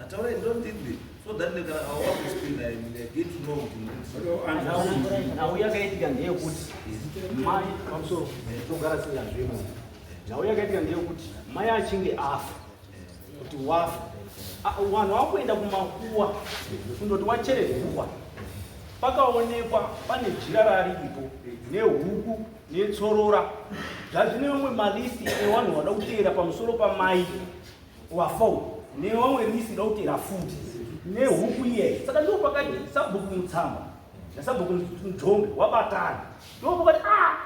Ataure ndo ndidli so that ndekana awa kuspinda and they get to know kuti ndidli. nhau yakaitika ndeyekuti mai pamusoro togara singazvimo nhau yakaitika ndeyekuti mai achinge afa kuti wafa Ah, vanhu vakuenda kumakuwa kundoti wachere guva pakaonekwa pane jira raripo nehuku netsorora zvazvine vamwe malisti evanhu vada kuteera pamusoro pamai wafou newamwe misi dautera futi nehuku iye saka ndiwo pakati sabhuku mutsamba nasabhuku mudhombe wabatana ndiwo pakati a ah,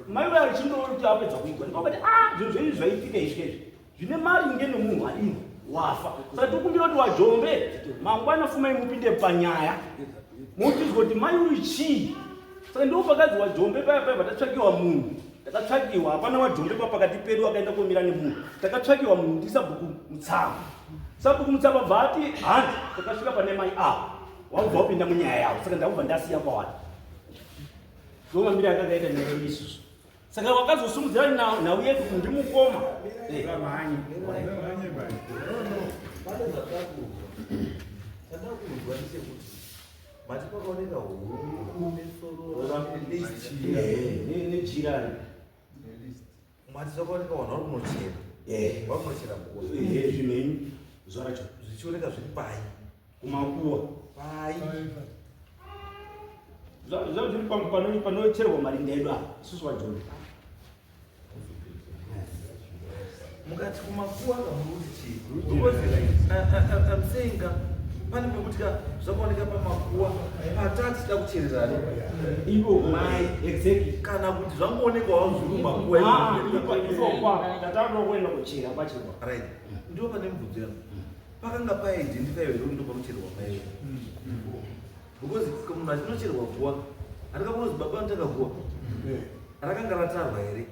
mai vaya vachindoona kuti apedza kuigwa ndiwo pakati a ah, zvinhu zvenyu zvaitika izvi izvi zvine mari nge nomunhu adini wafa saka tikumbira kuti wajombe mangwana fumai mupinde panyaya motizwa kuti mai uyu chii saka ndiwo pakadzi wajombe paya paya patatsvakiwa munhu takatsvakiwa hapana wadhombepa pakati pedu akaenda komira nemunhu takatsvakiwa munhu ndi sabhuku mutsama sabhuku mutsama bva ati handi takasvika pane mai avo wakubva wapinda munyaya yavo saka ndakubva ndasiya kwawani ndomamira akakaita nyaya isusu saka wakazosumudzira nhau yedu kundi mukoma eh. Mati kwakaoneka huku nejirani mati zvakaoneka vanhu vari kunochera eh. vari kunochera eh, zvinei zvacho zvichioneka zviri pai kumakuwa pai zvazviri panocherwa marinda edu apa isusu vajoni mukati kumakuwa kamuruti chii am saying ka pane pekuti ka zvakaoneka pamakuwa patati da kuchererana ivo mai exactly kana kuti zvangoonekawo zviri mumakuwa ipokwa tatauda kuenda kuchera pachekwa right ndiwo pane mubvunzo yangu pakanga paidentify here kuti ndopanochererwa paiwe Because munhu achinocherwa guwa handikakunozi baba anotanga guwa rakanga ratarwa here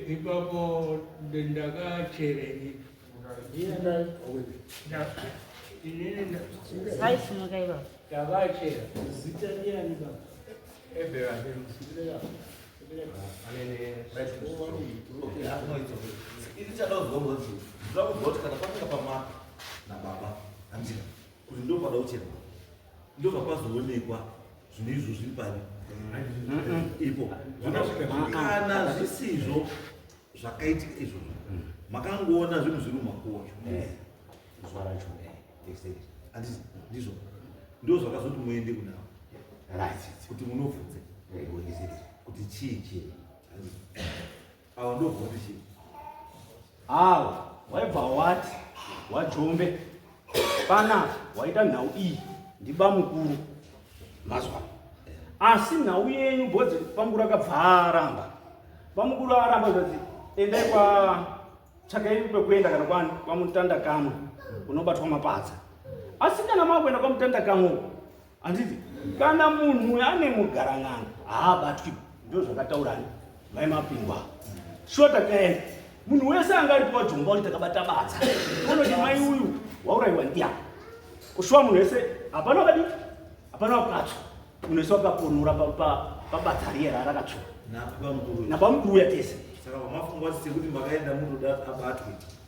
ipapo ndakacherei ini chadauzwa ngozi zvakuziva kuti kana patinga pamaka nababa handira kuti ndopada kuchema ndobva pazoonekwa zvinhu izvo zviri pari ipo kana zvisizvo zvakaitika izvozvo makangoona zvinhu zviri mumakuwa ndizvo ndo zvakazoti muende kunavo kuti munobvunze kuti chii chii Awa ndobvunza chii? Awa waibva wati wajombe pana waita nhau iyi ndiba mukuru mazwa asi nhau yenyu bodzi pamukuru akabva aramba pamukuru aramba zvazi endai kwa tsvakai kwekuenda kana kwani kwamutanda kamwe unobatwa mapadza asi kana makuenda kwamutanda kamwe Anditi kana munhu ane mugaran'anga haabatwi ndozvakataura ni mai mapingwa shota kaenda munhu wese anga ari kuwajomba kuti takabata badza unoti mai uyu waurayiwa ndiya kushuwa munhu wese hapana wakadi hapana wakatsva munhu wese wakaponora pabadza riye raarakatsva nabamukuru uya tese saka vamafungwa sekuti makaenda munoda abatwe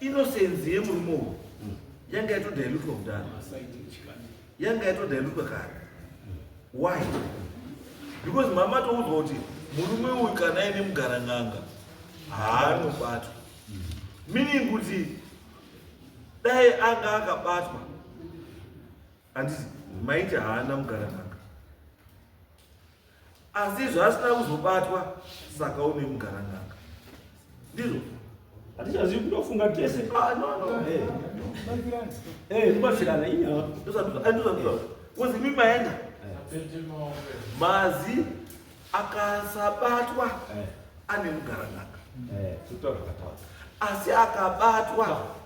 Innocence yemurume uyu yanga yatodhailutwa kudhara, yanga yatodhailutwa kare. Why? Because mama atoudzwa kuti murume uyu kana aine mugarang'anga haanobatwa, meaning kuti dai anga akabatwa handiti maiti haana mugarang'anga asi zvaasina kuzobatwa saka une mugaranganga ndizvo hatichazivi kutofunga tese ah, kubatsirana eh. eh, inyaya kozi mi maenda mazi akasabatwa eh. ane mugaranganga asi akabatwa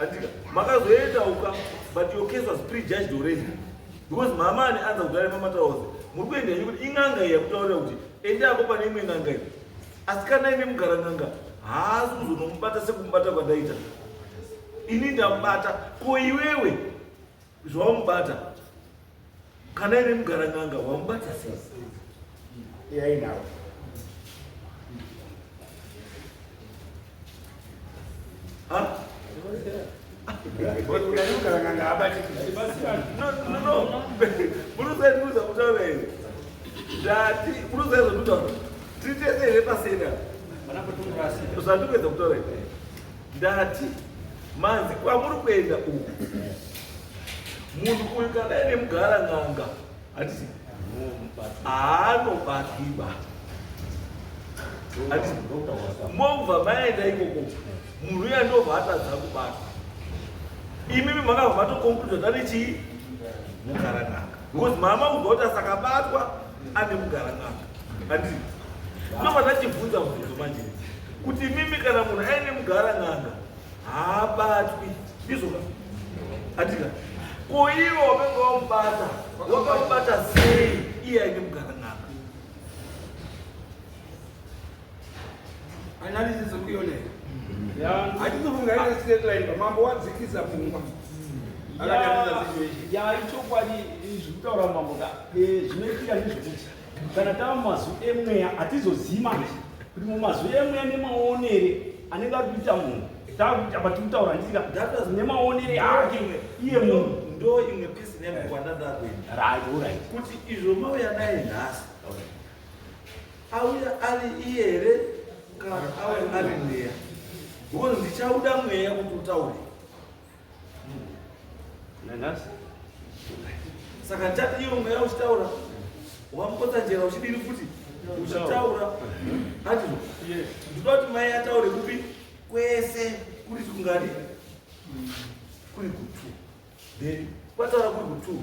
Atika, makazoenda uka, but your case was prejudged already. Because mama ane anza kudare mama taoze. Muri kuenda yenyu kuti inganga iya kutaurira kuti enda apo pane imwe nganga iyi. Asi kana imi mugara nganga, haasi kuzonomubata sekumubata kwandaita. Ini ndamubata, ko iwewe zvawamubata kana ine mugara n'anga wamubata sei yainawo zvandikuedza kutaura Ndati manzi kwamuri kuenda uku munhu uyu kana ine mugara n'anga hatisi aanobakiba mobva maenda ikoko munhu uya ndobva atadza kubata imimi makabva matokonkluda tane chii mugara n'anga because mama ubva kuti asakabatwa ane kugara n'anga andii ndobva ndachibvunza mubvunzo manje kuti mimi kana munhu aine mugara n'anga haabatwi ndizvoka andika ko ivo wamenge wamubata wakamubata sei iye aine mugara n'anga analysis ukuyoneka hatizofunga ine straight line pamambo wadzikisa pfungwa yaichokwadi zvekutaura mambo ka eh, zvinoitika ndezvekuti kana tava mumazwi emweya hatizozivi manje kuti mumazwi emweya nemaonere anenge ari kuita munhu apa tiri kutaura ndisika nemaonere ake iye munhu ndo imwe pisi nemukwandandakuenda kuti izvo mauya naye nhasi Auya ari iye here kana auya ari mweya? Because ndichauda mweya kuti utaure. Nanasi. Saka ndichati iwe mweya uchitaura. Wamupotsa njera uchidini futi? Uchitaura. Ati ndinoda kuti mai ataure kupi kwese kuri kungani? Kuri kutu. Then kwataura kuri kutu.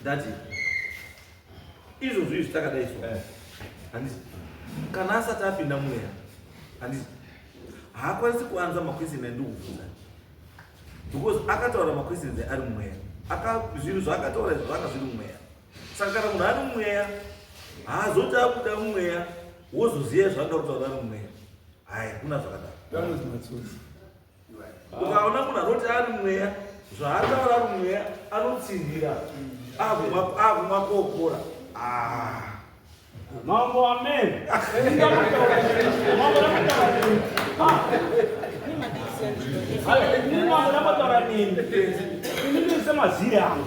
ndati izvozvo izvi takadai so eh. handiti kana asati apinda mweya handiti haakwanisi kuanza maquestion andikubvunza because akataura maquestions ari mweya zvinhu zvaakataura izvo zvanga zviri mweya saka kana munhu ari mweya haazoti akuda mweya wozoziva zvanga kutaura ari mweya haya kuna zvakadaro ukaona munhu anoti ari mweya zvaataura ari mweya anotsinhira akumwa kokora ah. mambo amen ini mambo ndambotaura nini ini ndiri semaziri angu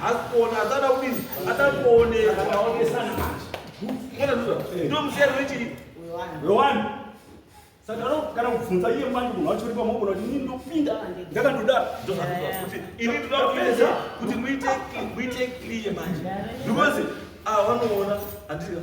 Haasi kuona, asada kudini? Asada kuoneka. Akaonesana manje. Mwana nduza. Ndio mzero wechiri. Wewani. Saka no kana kubvunza iye manje munhu wacho uri pamoko kuti ini ndopinda ndakandodaro. Ini ndoda kupedza kuti muite muite clear manje. Because ah vanoona andira.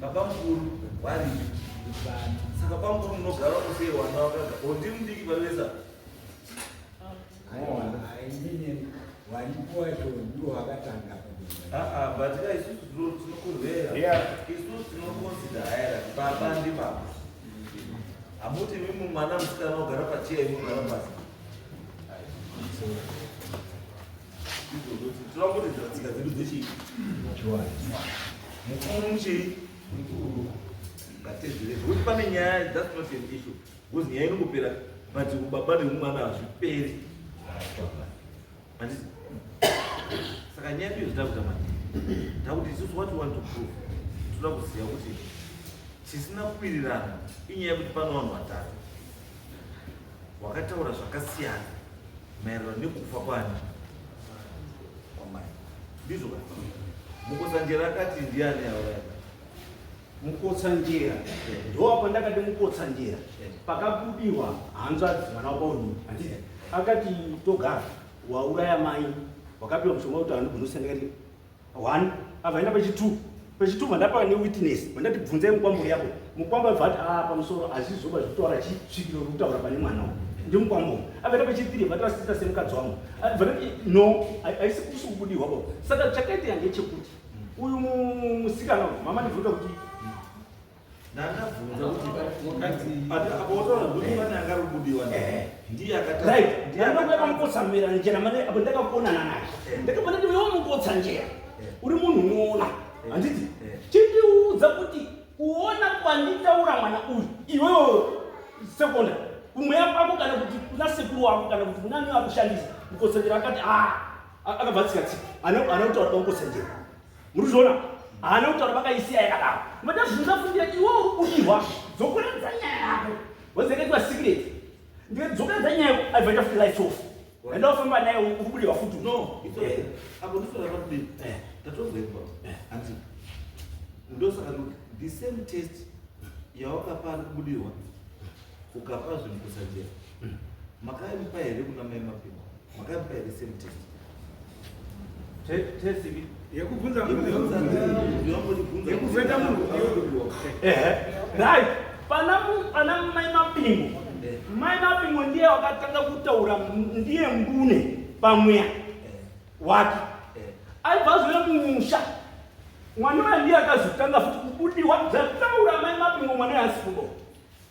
baba mukuru waripi saka bamukuru munogara kusei wana wakaga ondi mudiki pavesa waripo wacho ndiwo wakatanga but ka isusu tinokurwera isusu tinokonsida haera baba ndi baba hamuti mimi mwana musikana ogara pachiya imogara pasi pane nyaya that's not an issue because nyaya inongopera but baba nemumwana hazviperi saka nyaya iyo zitakuta mani ndakuti isusu what want to prove toda kuziva kuti chisina kuwirirana inyaya yekuti pano vanhu vatatu wakataura zvakasiyana maererano nekufa kwani kwamai ndizvo ka mukotsanjera akati ndiani auraya mukotsanjera ndoapo ndakati mukotsanjera pakabudiwa hanzvadzi mwana wabauni akati togara wauraya mai wakapiwa mushonga kuti anogona kusendekati one abva aenda pachitwo pachitwo mandapa ne witness mandati bvunzai mukwambo yako mukwambo abva ati aa ah, pamusoro hazvizoba zvitaura chi svikiro ri kutaura pane mwana uyu ndi mukwambo abva enda pachitiri abva tivasita semukadzi wangu abva ndati no haisi kusi kubudirwa bo saka chakaita yange chekuti uyu musikana uyu mama ndibvuta kuti ndakabvunza kuti apotora kuti pane akarubudiwa ndiye akataaangotsamira njera mane apo ndakakuonana naye ndakabana ndiwe wamukotsa njera uri munhu unoona handiti chindiudza kuti kuona kwanditaura mwana uyu iwewo sekonda kumweya kwako kana kuti kuna sekuru wako kana kuti kunani akushandisa mukotsanjera akati a akabva tsikatsika ana kutaura kwamukotsanjera Muruzona, haana kutaura vakaisiya yakadaro. Mada zvinzafundira iwo udirwa. Dzokoredza nyaya yako. Wazeketwa secret. Ndiye dzokoredza nyaya yako. I've got to light off. Enda ufamba naye ukubudiwa futu. No, it's okay. Apo ndifuna kuti eh tatobva ipo. Eh, anti. Ndosaka the same test yawakapa ari kubudirwa ukapa zvinhu kusajera. Hmm. Makaipa here kuna mai mapinda? Makapika the same test. Test ipi? Yekubvunza mubvunzo. Yekuvheta munhu. Ehe. Right. Pana pana mai mapingo. Mai mapingo ndiye wakatanga kutaura ndiye mbune pamweya wake. Aibva zve mumusha. Mwana ndiye akazotanga futi kubudiwa zvataura mai mapingo mwana yasipo.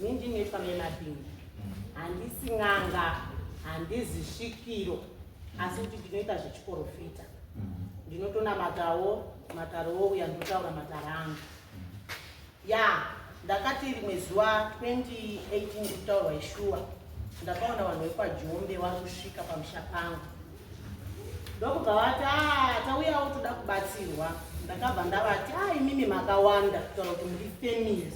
Ini ndinoitwa nemabhinga, handisi n'anga, handizi svikiro, asi kuti ndinoita zvechiporofita. Ndinotonamatawo matare wouya ndotaura matare angu. Ya, ndakati rimwe zuva 2018 kutaurwa ishuwa, ndakaona vanhu vekwaJombe vari kusvika pamusha pangu ndokubva vati ah, tauyawo toda kubatsirwa ndakabva ndavati a ah, imimi makawanda kutaura kuti muri family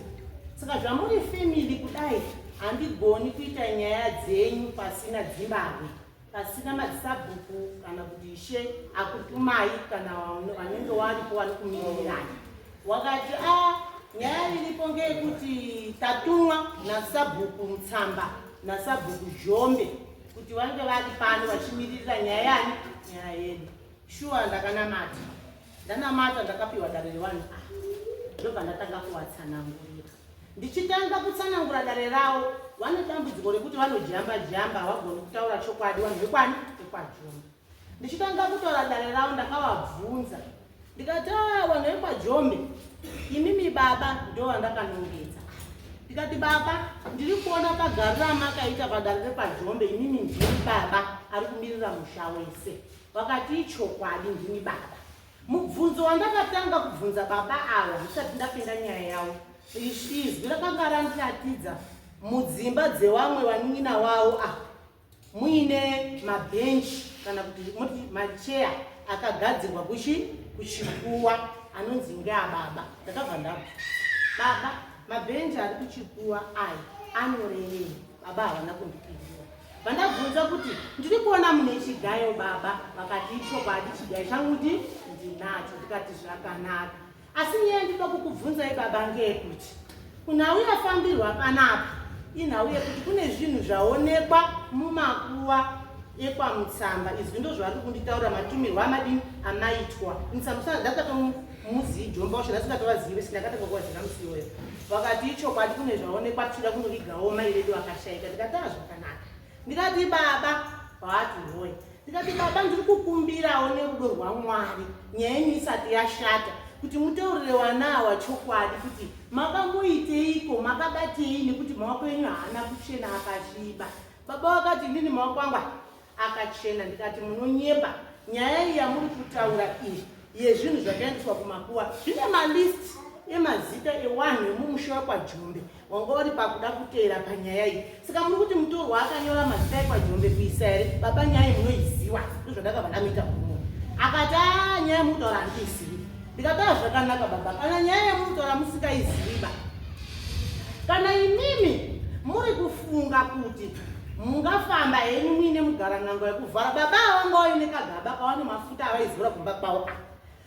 saka zvamuri family kudai handigoni kuita nyaya dzenyu pasina dzimbavwe pasina madzisabhuku kana kuti ishe akutumai kana vanenge waripo wari kumirirana wakati a ah, nyaya iripo ngeyekuti tatumwa nasabhuku mutsamba nasabhuku zhombe kuti vange vari pano vachimiririra nyaya yani nyaya yedu shuwa ndakanamata ndanamata ndakapiwa dare rewani a ndobva ndatanga kuvatsanangurira ndichitanga kutsanangura dare ravo vane dambudziko rekuti vanojamba jamba havagoni kutaura chokwadi vanhu vekwani vekwajomba ndichitanga kutora dare ravo ndakavabvunza ndikati ah, vanhu vekwajomi imimi baba ndo vandakanongedza ndikati baba ndiri kuona pagari ramakaita padare rekwajombe imimi ndini baba ari kumirira musha wese vakati ichokwadi ndini baba mubvunzo wandakatanga kubvunza baba ava ndisati ndapinda nyaya yavo izwi rakanga randiratidza mudzimba dzevamwe vanin'ina wavo ah muine mabhenchi kana kuti moti macheya akagadzirwa kuchi kuchikuwa anonzi ngeababa ndakabva ndabva baba mabhenchi ari kuchikuwa ayi anorevei baba havana kundipindura vandabvunza kuti ndiri kuona mune chigayo baba vakati ichokwadi chigayo changu ndi ndinacho ndikati zvakanaka Asi nyaya ndinoda kukubvunzai baba ngeyekuti kunhau yafambirwa panapa inhau yekuti kune zvinhu zvaonekwa mumakuva ekwamutsamba izwi ndo zvavari kunditaura matumirwa amadini amaitwa mutsambusaa ndakatomuzivi jomba ushe ndasikatovazive sindakatokokwazira musiwoyo vakati ichokwadi kune zvaonekwa tichida kunovigawo mai vedu vakashaika ndikataa zvakanaka ndikati baba vati hoye ndikati baba ndiri kukumbirawo nerudo rwamwari nyaya yenyu isati yashata kuti mutaurire vana awa chokwadi kuti makamuiteiko makabatei nekuti maoko enyu haana kuchena akasviba baba vakati inini maoko angu akachena ndikati munonyepa nyaya iyi yamuri kutaura iyi yezvinhu zvakaendeswa kumakuwa zvine malisti emazita ewanhu emumusha wekwa jombe wanga uri pakuda kuteera panyaya iyi saka muri kuti mutorwa akanyora mazita ekwajombe kuisa here baba nyaya iyi munoiziva ndozvandakabva ndamuita kuno akati a ah, nyaya yemukutaura handiizivi ndikataura zvakanaka baba kana nyaya yemukutaura musikaiziva kana imimi muri kufunga kuti mungafamba henyu muine mugarangango yekuvhara baba avangaoine kagaba kawane mafuta avaizivura kumba kwavo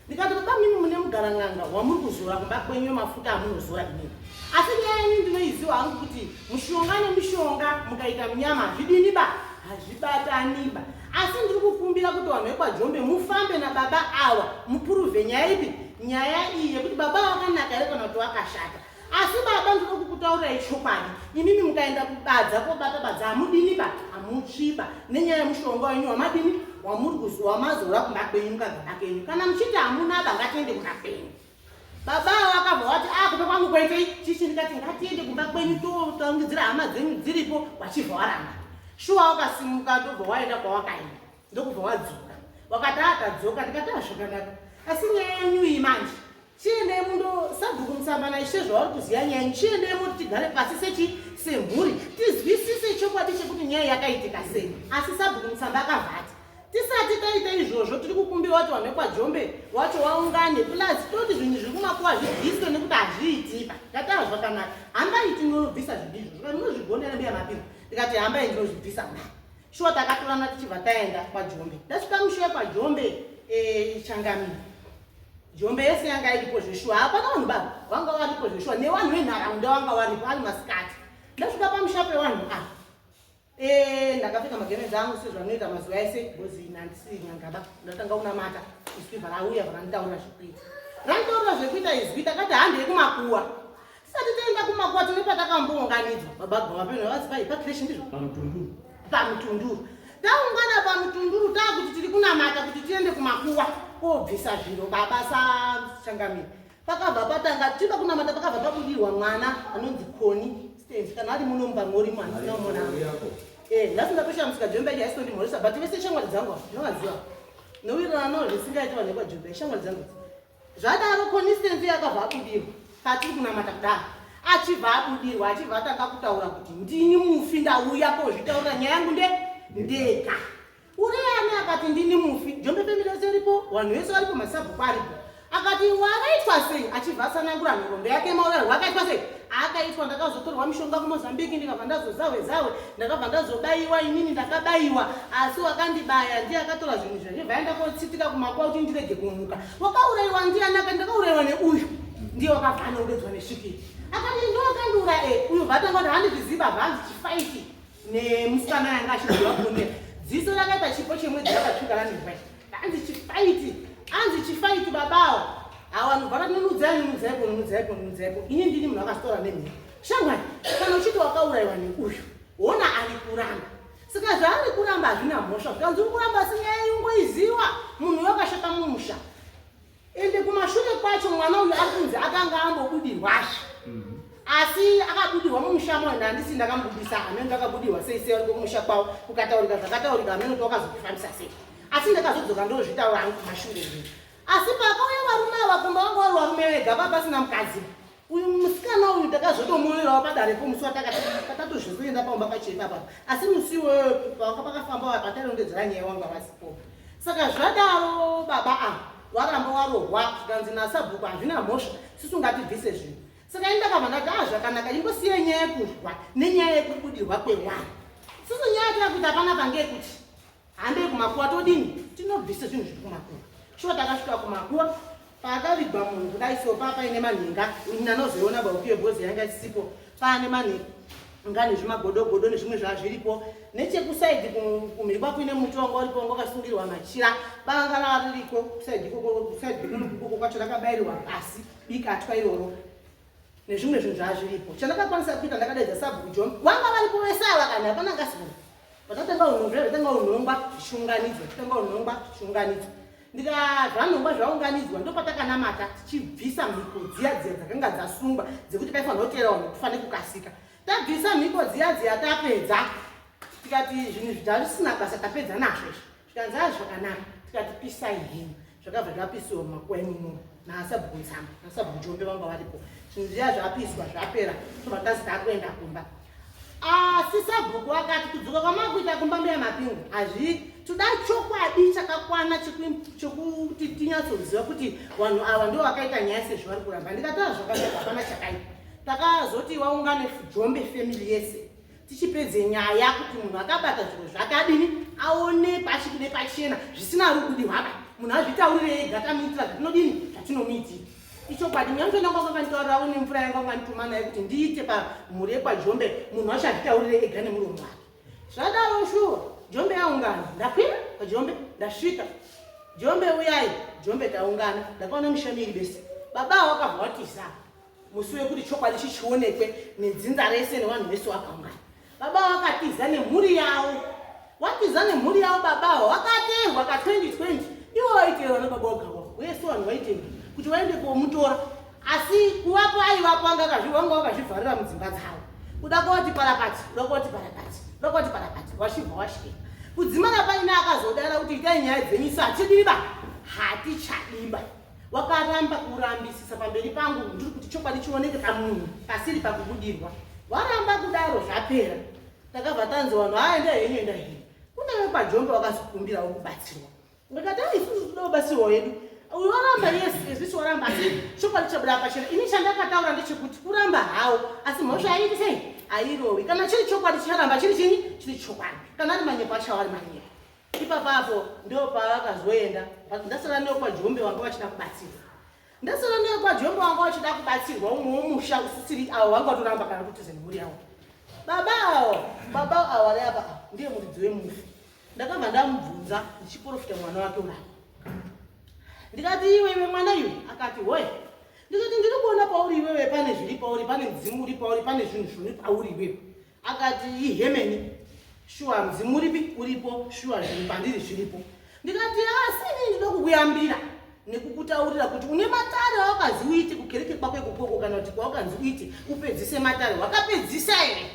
ndikati baba mimi mune mugara n'anga wamuri kuzora kumba kwenyu mafuta amunozora inini asi nyaya yenyu ndinoiziwa hangu kuti mushonga nemushonga mukaita munyama hazvidini ba hazvibataniba asi ndiri kukumbira kuti vanhu vekwajombe mufambe nababa awa mupuruve nyaya ipi nyaya iyi yekuti baba vakanaka here kana kuti vakashata asi baba ndiri kukutaurirai chokwadi imimi mukaenda kubadza kobata badza hamudini ba hamutsviba nenyaya yemushonga wenyu wamadini wamuri kuziva wamazora kumba kwenyu mukagara kenyu kana muchiti hamuna ba ngatiende kumba kwenyu baba avo vakabva vati a ah, kupa kwangu kwaitei chichi ndikati ngatiende kumba kwenyu totangidzira hama dzenyu dziripo wachibva waramba shuwa wakasimuka ndobva waenda kwawakaenda ndokubva wadzoka wakati atadzoka ah, ndikati azvakanaka ah, asi nyaya yenyu iyi manje chiendei mundo sabhuku musambana ishe zvavari kuziva nyaya yenyu chiendei moti tigare pasi sechi semhuri tizwisise chokwadi chekuti nyaya yakaitika sei asi sabhuku musamba akavhata tisati taita izvozvo tiri kukumbira wati wanhu wekwajombe wacho waungane plus toti zvinhu zviri kumakuwa zvibviswe nekuti hazviitika ngatava zvakanaka hambai tinobvisa zvidizvo zvoka munozvigonera mbiya mapiro ndikati hambai ndinozvibvisa mna shuwa takatorana tichibva taenda kwajombe ndasvika mushuwa kwajombe eh, changami jombe yese yanga iripo zveshuwa hapana vanhu baba vanga varipo zveshuwa nevanhu venharaunda vanga varipo ari masikati ndasvika pamusha pevanhu a ah, eh, ndakapfeka magemenzi angu sezvanoita mazuva ese bcoz nandisii nyangaba ndatanga kunamata iswi varauya varanditaura zvekuita randitaura zvekuita izwi takati handi yekumakuwa Tisati taenda kumakwati nepatakambounganidzwa baba Goma peno vazivayi pakreshi ndizvo pamutunduru pamutunduru taungana pamutunduru taakuti tiri kunamata kuti tiende kumakuwa kobvisa zviro baba sachangamire pakabva patanga tiba kunamata pakabva pabudirwa mwana anonzi koni stance kana ari muno mumba mori mwana sina umona eh ndasinga tosha musika jombe ya stondi mori sabati vese shamwari dzangu ndinovaziva nowirirano zvisingaiti vanhu vekwa jombe shamwari dzangu Zvadaro Constance yakabva abudirwa patiri kunamata kudaro achibva abudirwa achibva atanga kutaura kuti ndini mufi ndauya kozvitaurira nyaya yangu nde ndega uriyani akati ndini mufi jombe family yose iripo vanhu vese varipo masabhuku aripo akati wakaitwa sei achibva asanangura nhorombe yake maurero wakaitwa sei akaitwa ndakazotorwa mushonga kumozambique ndikabva ndazozahwe zahwe ndakabva ndazobayiwa inini ndakabayiwa asi wakandibaya ndiye akatora zvinhu zvazvo vaenda kotsitika kumakwa kuti ndirege kumuka wakaurayiwa ndiani akati ndakaurayiwa neuyu ndiye wakafana udodzwa nesvikiri akati ndoakandiura e eh, uyu vatanga kuti handizviziva vanzi chifaiti nemusikana yanga achidhiwa kuonera dziso rakaita chipo chemwedzi rakatsvuka randirwai Anzi chifaiti, anzi chifaiti babawo. Awa vanhu vakati nunudzai nunudzai ko nunudzai ko nunudzai ko. Ini ndini munhu akastora nemhuri. Shamwari, kana uchiti wakaurayiwa neuyu, wona ari kuramba. Saka zvaari kuramba hazvina mhosva, zvikanzi uri kuramba asi nyaya yungoiziwa munhu wakashata mumusha. ende kumashure kwacho mwana uyu ari kunzi akanga ambobudirwazve mhm. asi akabudirwa mumusha mwana handisi ndakambudisa hameno ndakabudirwa sei sei ariko kumusha kwavo kukataurika zvakataurika hameno kuti wakazokufambisa sei asi ndakazodzoka ndozvitaura hangu kumashure zvinhu asi pakauya varume ava kumba vanga vari varume vega vapasina mukadzi uyu musikana uyu takazotomuonerawo padare po musi watakatatozoenda pamba pacho ipapa asi musi iwoyo pavaka pakafamba patarongedzera nyaya wanga vasipo saka zvadaro baba a waramba warohwa zvikanzi nasabhuku hazvina mhosva sisi ungatibvise zvinhu saka ini ndakabva ndati a ah, zvakanaka ingosiya nyaya yekurwa nenyaya yekubudirwa kwewana sisi nyaya yakuti hapana pange kuti Handei kumakuva todini? Tinobvisa zvinhu zviri kumakuva. Shuwa takasvika kumakuva pakavigwa munhu kudai so paa paine manhinga ini anozoiona baukiyo bhozi yanga isipo paane manhinga nga nezvimagodogodo nezvimwe zvazviripo nechekusaidi kumhirikwa kuine muti wanga uripo wanga wakasungirwa machira banga raririko kusaidi kusaidikoko kwacho rakabayirirwa pasi bikatwa iroro nezvimwe zvinhu zvazviripo chandakakwanisa kuita ndakadaidza sabhuku john vanga varipo vese ava kana hapana ngasigona Patanga unhongwa, patanga unhongwa zvichiunganidzwa, patanga unhongwa zvichiunganidzwa. Ndika zvanhongwa zvaunganidzwa ndopatakanamatha tichibvisa mhiko dziya dziya dzakanga dzasungwa dzekuti paifanira kuteera vanhu kufane kukasika. Tabvisa mhiko dziya dziya tapedza tikati zvinhu zvisina basa tapedza nazvo izvi. zvikanzi aa zvakanaka tikati pisai hini zvakabva zvapisiwa mumakuva imomo naasabhuku nzama naasabhuku jombe vanga varipo zvinhu zviya zvapiswa zvapera tobva tazita akuenda kumba asi sabhuku akati kudzoka kwamakuita kumba mbuya mapingu hazvii toda chokwadi chakakwana chekuti tinyatsoziva kuti vanhu ava ndo vakaita nyaya sezvo vari kuramba ndikatara zvakaipa hapana chakaipa takazoti waungane jombe family yese tichipedze nyaya kuti munhu akabata zvinhu zvakadini aonekwa achikude pachena zvisina rugudi hwaka munhu azvitaurire ega tamuitira zvatinodini zvatinomuitira ichokwadi nyamto ndanga kwakanitaurirawo nemvura yanga kwanituma naye kuti ndiite pamhuri yekwajombe munhu wacho azvitaurire ega nemuromo wake zvadaro shuwa jombe yaungana ndakwira pajombe ndasvika jombe uyai jombe taungana ndakaona mushamiri bese baba wakavhawatisa musi wekuti chokwadi chichionekwe nedzinza rese nevanhu vese vakaungana baba vakatiza nemhuri yavo vatiza nemhuri yavo baba avo vakaterwa ka 2020 ivo vaiterwa nebaba vagava vese vanhu vaiterwa kuti vaende komutora asi kuvapo aivapo anga vanga vakazvivharira mudzimba dzavo kuda kwavati parapati kuda kwavati parapati kuda kwavati parapati vachibva vashika kudzimana paina akazodara kuti itai nyaya dzenyu sa tidiba hatichadiba Wakaramba kurambisisa pamberi pangu ndiri kuti chokwadi chioneke pamunhu pasiri pakubudirwa. Waramba kudaro zvapera. Takabva tanzi vanhu haa enda henyu enda henyu. Kune vekwaJombe vakazikumbirawo kubatsirwa. Ndikati haa isusu tinoda kubatsirwa hedu. Uyu waramba yes ezvisi waramba asi chokwadi chabuda pachena. Ini chandakataura ndechekuti kuramba hawo asi mhosva yaiiti sei? Airowi. Kana chiri chokwadi chicharamba chiri chinyi? Chiri chokwadi. Kana ari manyepo achawa ari manyepo. Ipapa apo ndo pavakazoenda but ndasara ndiyo kwajombe wanga wachida kubatsirwa ndasara ndiyo kwajombe wanga wachida kubatsirwa umwe womusha usisiri awo wanga watoramba kana kuti zenhuri yawo baba awo baba awo ari apa ndiye muridzi wemufi ndakabva ndamubvunza ndichiporofita mwana wake urapa ndikati iwe iwe mwana iwe akati hoye ndikati ndiri kuona pauri iwewe pane zviri pauri pane mudzimu uri pauri pane zvinhu zviri pauri iwewe akati ihemeni shuwa mudzimu uripi uripo shuwa zvinhu pandiri zviripo ndikati asi ah, inini ndinoda kukuyambira nekukutaurira kuti une matare awakazi uite kukereke kwako ikokoko kana kuti kwaukanzi uite upedzise matare wakapedzisa here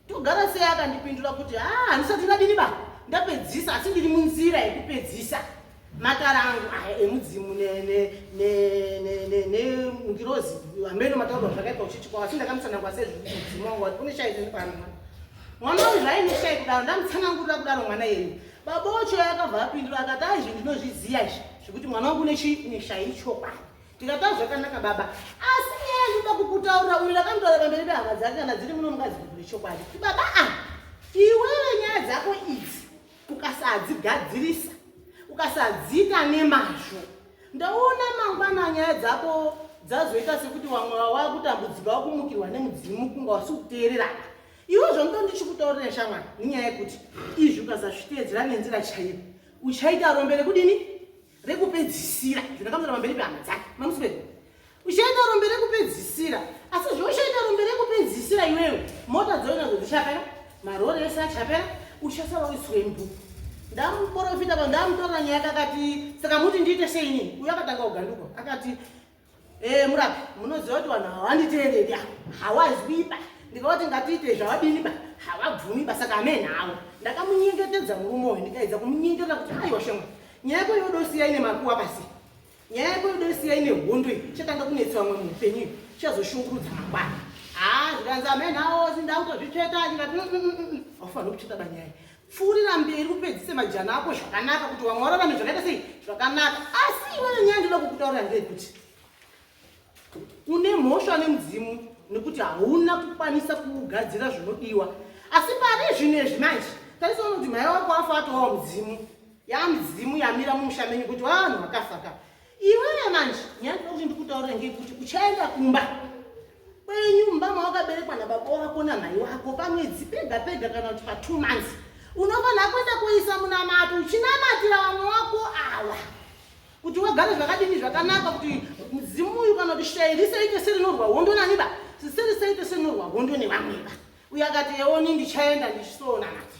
togara sei akandipindura kuti haa ah, handisati ndadini ba ndapedzisa asi ndiri munzira yekupedzisa matara angu aya emudzimu nengirozi hameno mataurwa zvakaipa uchichikwa asi ndakamutsanangwa sezvimudzimu wangu wati kune shairi pano mwana wangu zvaine shairi kudaro ndamutsanangurira kudaro mwana yenyu baba wacho yakabva apindura akati ai zvi ndinozviziva izvi zvekuti mwana wangu neshairi chokwadi ndikata zvakanaka baba asi nyaya ndinoda kukutaurira uyu ndakandotaura pamberi pehama dzake kana dziri muno mukadzi kuti zvechokwadi kuti baba a ah, iwewe nyaya dzako idzi ukasadzigadzirisa ukasadziita nemazvo ndaona mangwana nyaya dzako dzazoita sekuti vamwe vava kutambudzika vakumukirwa nemudzimu kunga wasi kuteererana iwe zvondo ndichikutaurira shamwana nenyaya yekuti izvi ukasazviteedzera nenzira chaiyo uchaita rombe rekudini rekupedzisira zvakakamura pamberi pehama dzake mamuswere uchaita rombe rekupedzisira asi zvauchaita rombe rekupedzisira iwewe mota dzoinadzo dzichapera marori ese achapera uchasara uiswembu ndamuporofita pa ndamutorera nyaya kakati saka muti ndiite seini uyo akatanga kuganduka akati Eh, murapi munoziva kuti vanhu havanditeereri a hawazwiba ndikavati ngatiite zvavadiniba havabvumiba saka amee nhawo ndakamunyengetedza murume uyu ndikaedza kumunyengetera kuti aiwa shema nyaya yako yodosiya ine makuwa pasi nyaya yako yodosiya ine hondo iyi chatanga kunetsa vamwe muupenyu iyo chazoshungurudza mangwana haa zvikanzi amee nhawo sindakutozvitsveta ndikati aufanira kutsveta banyaya pfuurira mberi upedzise majana ako zvakanaka kuti vamwe vararame zvakaita sei zvakanaka asi iweyo nyaya ndoda kukutaurira ndeyekuti une mhosva nemudzimu nekuti hauna kukwanisa kugadzira zvinodiwa asi pari zvino izvi manje tarisoona kuti mhaya wako afa atowawa mudzimu yamidzimu yamira mumusha menyu kuti vanhu vakafaka Iwewe manje nyaya ndinoda kuti ndikutaurire ngekuti uchaenda kumba kwenyu mumba mawakaberekwa nababa wako namhai wako pamwedzi pega pega kana kuti patwo months unofanira kuenda kuisa munamato uchinamatira vamwe wako awa kuti wagare zvakadini zvakanaka kuti mudzimu uyu kana kuti shai risaite serinorwa hondo naniba siserisaite serinorwa hondo nevamweba uyo akati eoni ndichaenda ndichisoona mati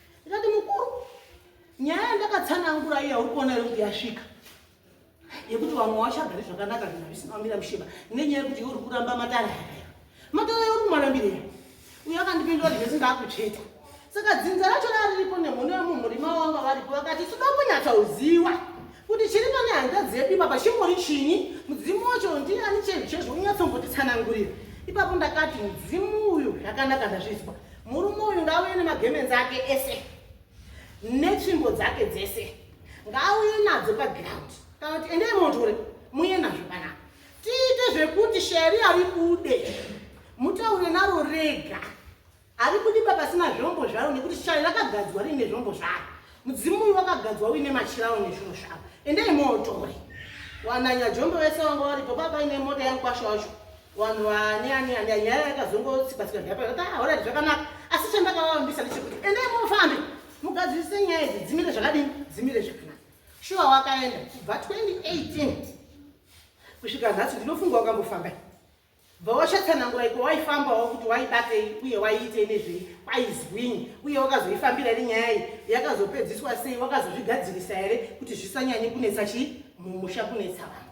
ndikati mukuru nyaya yandakatsanangura iya uri kuona iri kuti yasvika yekuti vamwe wachagari zvakanaka zvinhu zvisina kumira mushiba nenyaya yekuti iwe uri kuramba matare aya matare ayo uri kumarambirei uyo akandipindura kuti zvese ndaakutsveta saka dzinza racho rariripo nemhono yemumurima wanga varipo vakati toda kunyatsauziwa kuti chiri pane hanzvadzi yedu ipapa chingori chinyi mudzimu wacho ndiani chezvo chezvo unyatsombotisanangurira ipapo ndakati mudzimu uyu zvakanaka ndazvizwa Murume uyu ngaauye nemagemenzi ake ese netsvimbo dzake dzese ngaauye nadzo paground kana kuti endei motore muye nazvo panapa tiite zvekuti sheri ari kude mutaure naro rega ari kudiba pasina zvombo zvaro nekuti shari rakagadzwa riine zvombo zvaro mudzimu uyu wakagadzwa uine machirawo nezvinhu zvavo endei mootore wananya jombo vese vanga varipo papaine mota yangu kwasho wacho Wanhu wani ani ani anyaya yakazongo tsipa tsipa ndapa yaka hora ah, zvaka naka asi chanda ka wani bisa ndichi kuti ende mo fambi mugadzi se nyaya idzi dzimire zvakadi dzimire zvakana shuwa wakaenda kubva 2018 kusvika nhasi ndinofunga wakambo famba bva washatsanangura iko waifamba wa kuti waibatei uye waiitei nezvei kwaizwini uye wakazoifambira ri nyaya iyi yakazopedziswa sei wakazozvigadzirisa here kuti zvisanyanye kunetsa chii mumusha kunetsa vanhu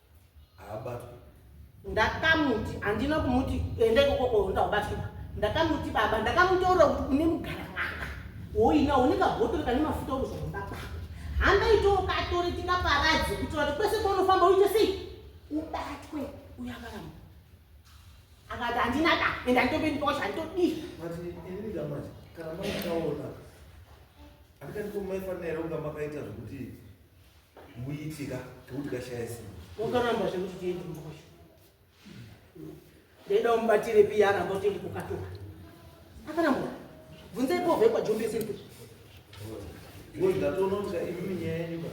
haabatwi ndakamuti handina kumuti enda ikokoko ndabatwi ndakamuti baba ndakamutoura kuti une mugara manga woina une kabhotoro kane mafuta okuzvomba kwako hamba itawo katore tikaparadze kuitira kuti kwese kwaunofamba uite sei ubatwe uyakaramba akati handina da ende handitopendikosha handitodii kana maitaona handikandiko maifanira kunga makaita zvekuti muitika tekuti kashaya simba wakaramba zvekuti tiende mukosha ndaida umubatire piya aramba kuti ndi kukatora akaramba bvunzai povhe kwajombese kuti ndatonoka imimi nyaya yenyu ka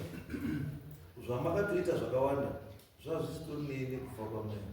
zvamakatoita zvakawanda zvazvisitori neyene kufa kwamwena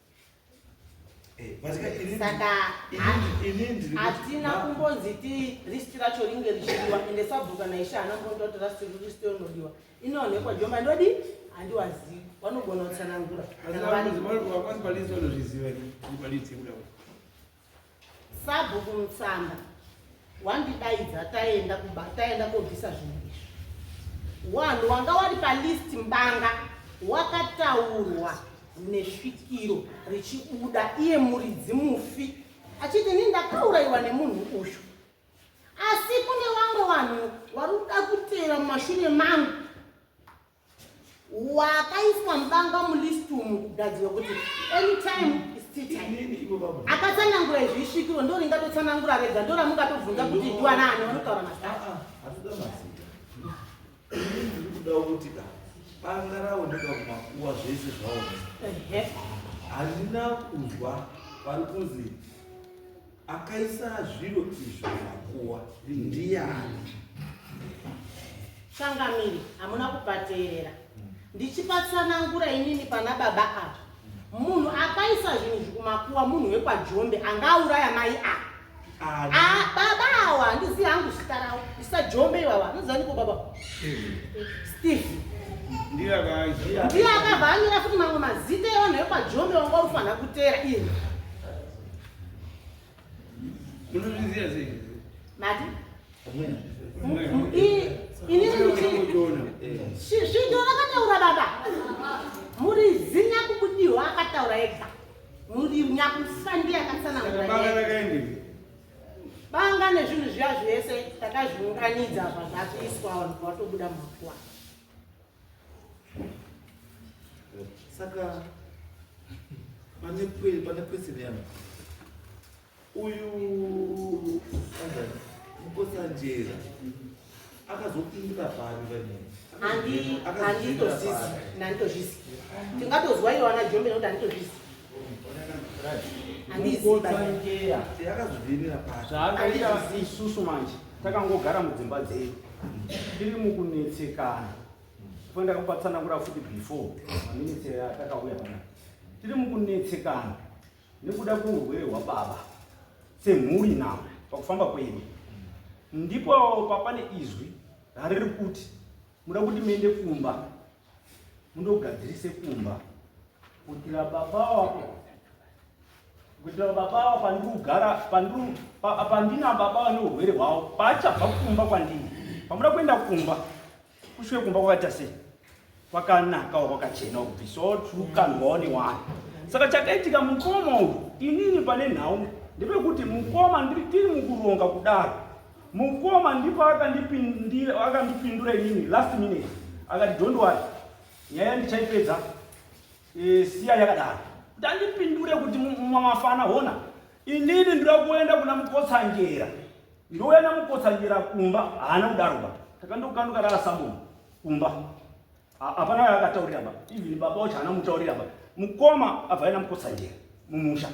Eh, saka hatina kumbonzi ti risti racho ringe richidiwa ende sabhuku kana ishe haana kumbonda kuti rasti risti rinodiwa inoonekwa joma ndodi handiwazivi vanogona kutsanangura Sabhuku Mutsamba wandidaidza taenda kuba taenda kobvisa zvinhu izvi. Wanhu wanga wari palist mbanga wakataurwa nesvikiro richibuda iye muridzi mufi achiti ini ndakaurayiwa nemunhu uyu asi kune vamwe vanhu vari kuda kutera mumashure mangu wakaiswa mubanga mulist umu kugadzirwa kuti anytime akatsanangura izvi isvikiro ndo ringatotsanangura rega ndo ramungatobvunza kuti ndiwanaani vanotaura mazaa banga raoneka kumakuwa zvese zvaoneka handina kunzwa vari kunzi Akaisa zviro izvo makuwa ndiani? Changamire, hamuna kupateerera. Ndichipatsanangura inini pana baba ava. Munhu akaisa zvinhu izvi kumakuwa munhu wekwaJombe anga auraya mai ava. Ani? Ah, baba awa handizivi hangu zita ravo. Isa Jombe iwawa, anozivaniko baba? Steve. Ndiye akaziva. Ndiye akabva anyora futi mamwe mazita evanhu vekwaJombe wanga ufanira kuteera ini. Munozviziva sei? Mati? Svinjo rakataura baba. Muri zinya kubudiwa akataura ega. Muri nyakufa ndiye akatsanangura. Banga rakaendei? Banga nezvinhu zviya zvese takazviunganidza zvazvakuiswa vanhu vatobuda makuwa. saka pane pane question yangu uyu mukosanjera akazopindira pari vanei handitozvisi handitozvisi tingatozwa iyo ana jombe nokuti handitozvisi handizibaaakazovirira pari zvaakaita isusu manje takangogara mudzimba dzedu tiri mukunetsekana fo ndakapatsanangura futi before maminitsi atakauya pana tiri mukunetsekana nekuda kweurwere hwababa semhuri now pakufamba kwedu ndipo papane izwi rariri kuti muda kuti muende kumba mundogadzirise kumba kuitira baba wako kuitira baba wako pandiri kugara pandiri pandina baba vane urwere hwavo paachabva kumba kwandini pamuda kuenda kumba kusvike kumba kwakaita sei kwakanaka kwakachena kuti so true can go on one saka chakaitika mukoma uyu inini pane nhau ndepekuti mukoma ndiri tiri mukuronga kudaro Mukoma ndipo akandipindira akandipindura inini last minute akati don't worry nyaya ndichaipedza e, siya yakadaro kuti andipindure kuti mamafana hona inini ndira kuenda kuna mukotsanjera ndouya namukotsanjera kumba haana kudaroba takandokanduka rara samomo kumba Hapana waye akataurira baba. Even baba wacho haana mutaurira baba. Mukoma abva aina mukotsanjera mumusha.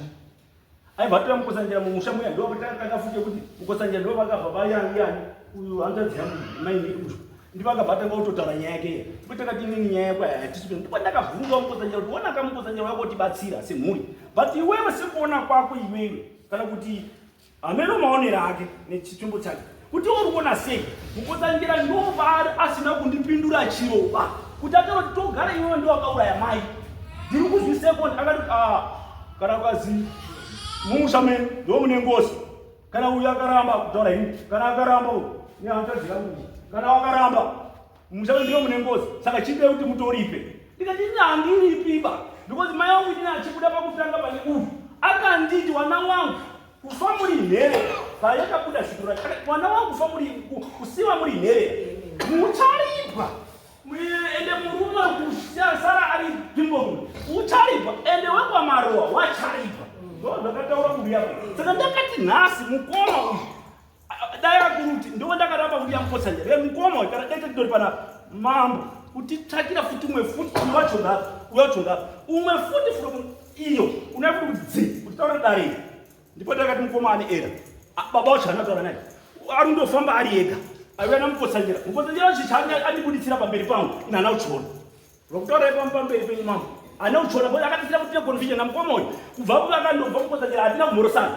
Aibva atora mukotsanjera mumusha muya ndo vakatanga futi kuti mukotsanjera ndo vakabva vayani yani uyu hanzvadzi yangu mai uyu. Ndipo akabva atanga kutotaura nyaya yake iya. Ndipo takati inini nyaya yako hatisi kuti ndipo ndakabvunza mukotsanjera kuti wona kamukotsanjera wako tibatsira semhuri. But iwewe sekuona kwako iwewe kana kuti Hameno maonero ake nechitumbu chake kuti uri kuona sei mukotangira ndovaari asina kundipindura chiroba kuti atoroti togara iwewe ndiwakauraya mai ndiri kuzwi second akati ah, kana kwazi mumusha mene ndo mune ngozi kana uyu akaramba kutaura ini kana akaramba uyu nehanzvadzi yangu kana wakaramba Mushando ndiyo mune ngozi. Saka chide kuti mutoripe. Ndikati ini handiripiba because mai wangu ini achibuda pakutanga pane uyu akanditi wana wangu kufa muri nhere payakabuda zito racho mwana wangu kufa muri kusiwa muri nhere mucharipwa ende murume kusara ari bimbomu ucharipwa ende wekwamarowa wacharipwa ndo zvakataura mbuya saka ndakati nhasi mukoma uyu Dai akuruti ndiwo ndakaramba kuti yamukotsa njere mukoma uyu kana dete kudori pana mambo kutitsvakira futi umwe futi uyo wacho ngapi uyo wacho ngapi umwe futi from iyo unoya kuti kuti dzi kuti taura dare iri ndipo ndakati mukoma ane era baba wacho anataura naye ari ndofamba ari ega aiuya namukotsanjera mukotsanjera wacho chaange andibuditsira pamberi pangu inana uchona vakutaura ipamo pamberi penyu mambo ana uchona bo akatisira kuti neconfusion namukoma uyu kubva kuvakandobva mukotsanjera hatina kumhorosana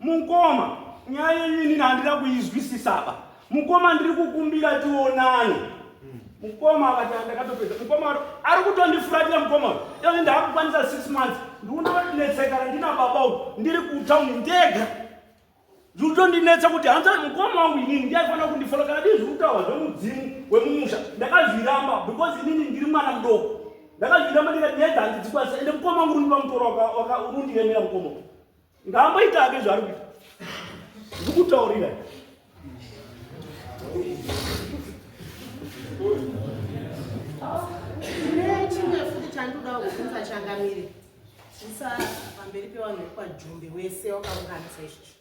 Mukoma, nyaya yenyu inini handina kuizwisisaba. Mukoma ndiri kukumbira tionane. Mukoma akati ndakatopedza. Mukoma ari kutondifuratira mukoma. Iye ndakukwanisa 6 months. Ndikuona kuti netseka randina baba uyu ndiri kutown ndega. Ndikutondinetsa kuti hanzi mukoma wangu inini ndiye aifanira kundifola kana dii zvekutaura zvemudzimu wemumusha. Ndakazviramba because inini ndiri mwana mudoko. Ndakazviramba ndikati nyaya dzangu dzikwanisa ende mukoma wangu uri ndipa mutoro wakarundiyemera mukoma. ngaamboita hake zvaari kuita ndikutaurira nechimwe futi chandoda kuvhunza changamire zvisa pamberi pevanhu vekwadhumbe wese wakaunganisa izvozvo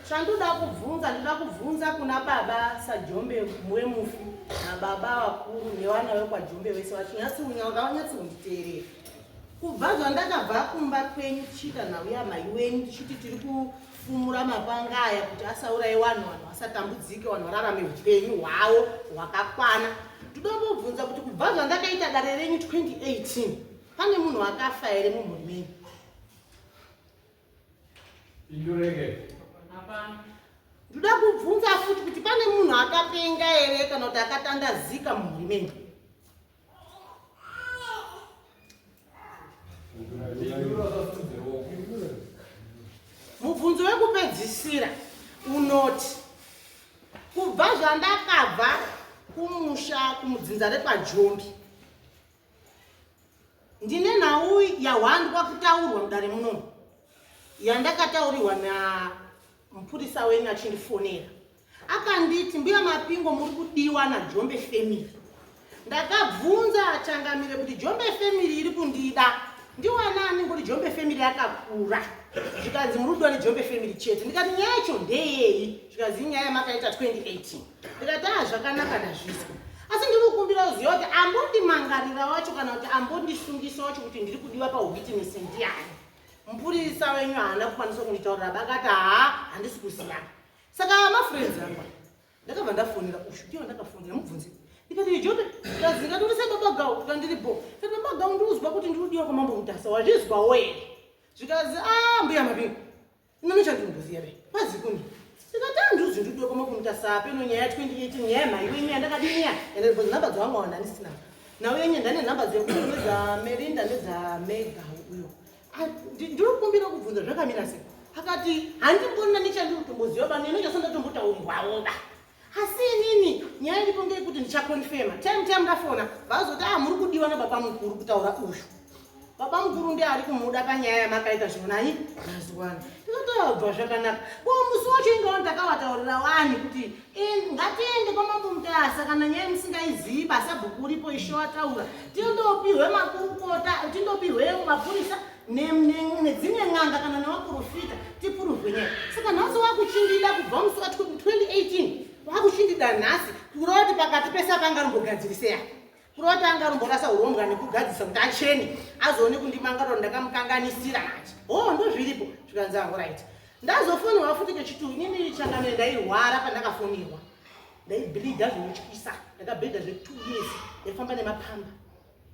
chandoda kubvunza ndoda kubvunza kuna baba sajombe wemufi nababa vakuru nevana vekwadhumbe wese vachinyatsiunya ngavanyatsiunditeerera Kubva zvandakabva kumba kwenyu tichiita nhau yamai wenyu tichiti tiri kufumura mapanga aya kuti asauraye wanhu wanhu asatambudzike wanhu vararame upenyu hwavo hwakakwana ndinombobvunza kuti kubva zvandakaita dare renyu 2018 pane munhu akafa here mumhuri menyu indureke ndoda kubvunza futi kuti pane munhu akapenga here kana kuti akatandazika mumhuri menyu mubvunzo wekupedzisira unoti kubva zvandakabva kumusha kumudzinza rekwajombi ndine nhau yahwandwa kutaurwa mudare munomu yandakataurirwa namupurisa wenyu achindifonera Akanditi, mbuya Mapingo muri kudiwa naJombe family. Ndakabvunza Changamire kuti Jombe family iri kundida. Ndiwanani ngoti Jombe family yakakura. Zvikanzi muri kudiwa neJombe family chete. Ndikati nyaya yacho ndeyei? Zvikanzi nyaya yamakaita 2018. Ndikati ah zvakanaka ndazvizwa. Asi ndiri kukumbira kuziva kuti ambondimangarira wacho kana kuti ambondisungisa wacho kuti ndiri kudiwa pawitness ndiyani. Mupurisa wenyu haana kukwanisa kunditaurira bakati haa handisi kuziva. saka mafriends angu ndakabva ndafonera ushu ndiyo ndakafonera mubvunzi ndikati ijote tazinga turi sebabagau tikandiri bo kati babagau ndiuzwa kuti ndiudiwa kwamambo mutasa wazvizwa wee zvikazi a ah, mbuya mabingu inonochandimbuziya re kwazi kuni ndikati andiuzvi ah, ndiudiwa kwamambo mutasa apeno nyaya ya 2018 nyaya yemhai wenyu yandakadinya ende bvunzi nhamba dzawangawana ndisina nawo yenye ndane nhamba dzekuuza merinda nedzamega uyo Ah, ndiri kumbira kubvunza zvakamira sei akati handimbona nechandiri kutomboziva pano ino chasonda tombotaumbwaoba asi inini nyaya iripo ngeyekuti ndichakonfema time time ndafona vazoti a ah, muri kudiwa nababa mukuru kutaura uyu baba mukuru ndi ari kumuda panyaya yamakaita zvonani mazuva ano ndikatoabva zvakanaka ko musi wacho ingawa ndakavataurira wani kuti In, ngatiende kwamambo mutasa kana nyaya musingaizivi basabhuku uripo isho ataura tindopihwe makurukota tindopihwe mapurisa nedzimwe n'anga kana nevaprofita tipuruvhe nyaya saka nhasi wakuchindida kubva musi wa 2018 wakuchindida nhasi kuroti pakati pese apangarimbogadzirisei Kurota anga anomborasa urombwa nekugadzisa kuti achene azoone kundimanga kuti ndakamukanganisira manje. Oh, ndozviripo zvikanzi hangu right. Ndazofonirwa futi kechituru inini changamire ndairwara pandakafonirwa. Ndaibhilidha zvinotyisa ndakabhedha zve two years ndaifamba nemapamba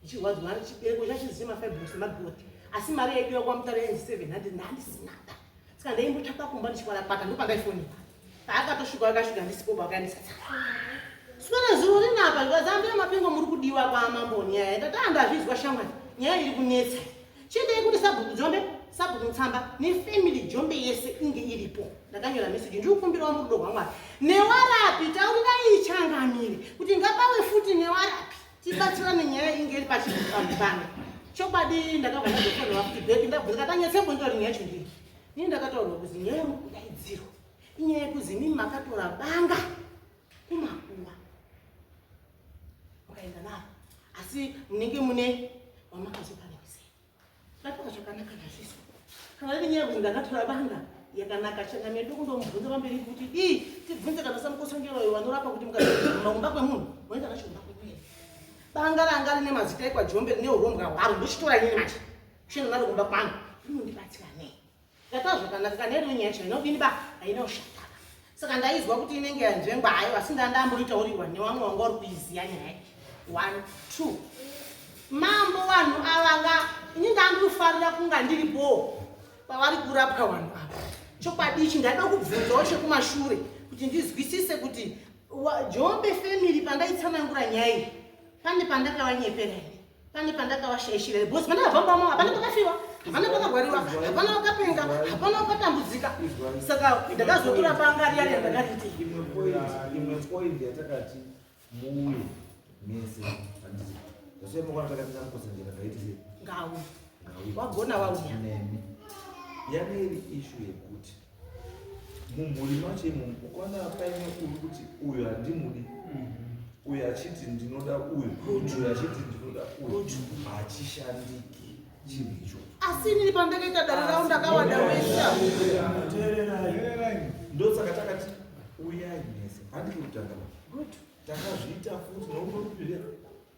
ichirwadziwa ari chibereko chachizii mafibros nemagoti asi mari yaidiwa kwamutare yenzi seven hundred ndandisina saka ndaimbotsvaka kumba ndichikwarakwata ndopandaifonirwa paakatosvika akasvika ndisipo bakaendesa sipera zuro rinapa ndikazambe mapengo muri kudiwa kwamambo nyaya ndataa ndazvizwa shamwari nyaya iri kunetsa chiendei kuti sabhuku jombe sabhuku mutsamba nefamily jombe yese inge iripo ndakanyora meseji ndikukumbirawo murudo rwamwari newarapi taurirai changamire kuti ngapawe futi newarapi tibatsirane nyaya inge iri pachipambano chokwadi ndakabva ndazofonera kuti bheki ndabvunza katanyetsembo ndori nyaya chindii Ini ndakataurwa kuzi nyaya yekudaidzirwa inyaya yekuzi imimi makatora banga kumakuwa mukaenda navo asi munenge mune wamakazopanekise ndatoka zvakanaka nazviso kana iri nyaya yekuti ndakatora banga yakanaka chena medu kundomubvunza pamberi kuti ii tibvunze kana samukosongeroyo vanorapa kuti mukaumba kwemunhu moenda nacho umba kwemunhu banga ranga rine mazita ekwa jombe rine urombwa hwaro ndochitora ini manje Shona mari kumba kwangu. Unondibatsira nei? Ndataura zvakanaka kana iri nyaya shona inodini ba? Haina ushata. Saka ndaizwa kuti inenge yanzvengwa hayo asi ndandamboita uri one wamwe wanga uri kuiziya nyaya. One, two. Mambo vanhu ava nga ini ndandofarira kunga ndiri boo pavari kurapwa vanhu ava. Chokwadi ichi ndaida kubvunzawo chekumashure kuti ndizwisise kuti Jombe family pandaitsanangura nyaya iyi pane pandakavanyepera here? pane pandakavashaishira here bhosi pane vafambamo hapana pakafiwa hapana pakagwariwa hapana vakapenga hapana vakatambudzika saka ndakazotura panga riya riya ndakariti imwe point yatakati muuye mese handizi zvasoi makwana takatanga kukosanjera ndaiti sei ngawu wagona wauya nemi yane iri ishu yekuti mumhuri macho imomo ukaona paine uri kuti uyu handimudi mhm. uyu achiti ndinoda uyu uyu achiti ndinoda uyu hachishandiki chinhu icho asi inini pandakaita dare ravo ndakawanda wesha ndosaka takati uyai mese handikutanga takazviita futi nokunokupirea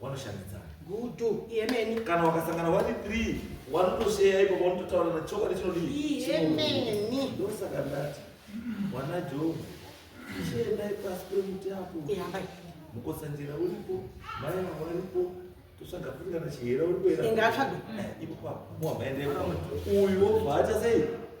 wanoshandidzana gutu yemeni kana wakasangana wari three wanotosheya ipo vanototaura na chokwadi chinodii yemeni ndosaka ndati wana jobu chiendai pasi pemuti apo mukotsanjera uripo mai vavo varipo tosvaga kuringana chihera uripo ingatsvaga eh, ipo papo muhamaendepo uyu wobva acha sei